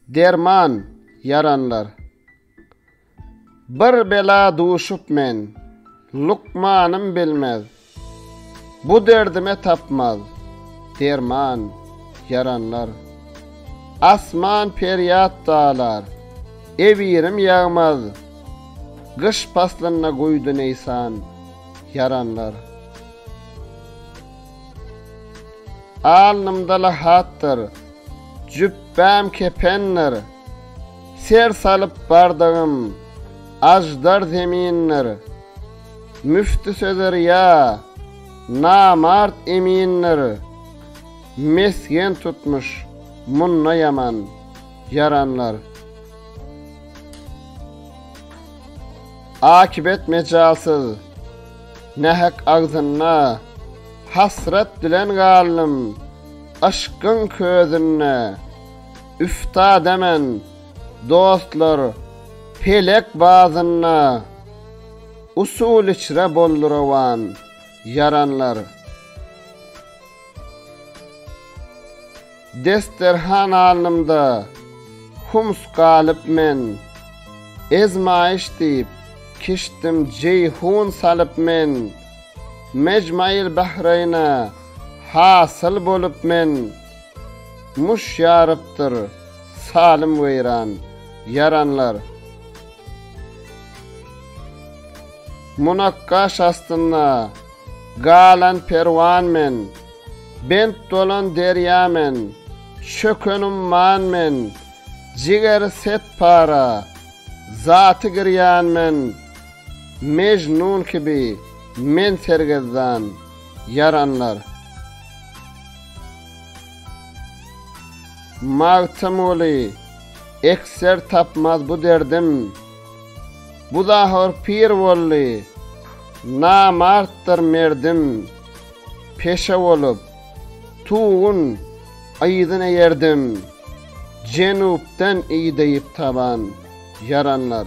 Derman ýaranlar. Bir bela duşup men, lukmanym bilmez. Bu derdime tapmaz, derman ýaranlar. Asman perýat dalar, ewirim ýagmaz. Gyş paslynda guýdy neýsan. ýaranlar. Alnymda lahatdyr, jübäm kependir, Ser salyp bardygym aždar zemindir. Müfti sözer ýa namart emindir, Mesgen tutmuş munda ýaman ýaranlar. Akybet mejalsyz, nähak agzynda, Hasrat bilen galdym, yşkyň közünde. Üftada men, dostlar, pelek bazynda, Usul içre boldy rowan, ýaranlar. Desterhan alnymda hums galyp men, Ezmaýyş diýip, kişdim jeýhun salyp men, Mejmaýyl Bahreýne hasyl bolup men, Muş ýarypdyr salym weýran, ýaranlar. Munakgaş astynda galan perwan men. Bent bolan derýa men, Çöken umman men, Jigeri set para, Zaty girýan men, Mejnun kibi, Men sergezdan, Ýaranlar. Magtymguly, Ekser tapmaz bu derdim, Bu zahor pir boldy, Namartdyr merdim. Peşe bolup, tugun yzyn eýerdim, Jenupdan ideyip taban ýaranlar.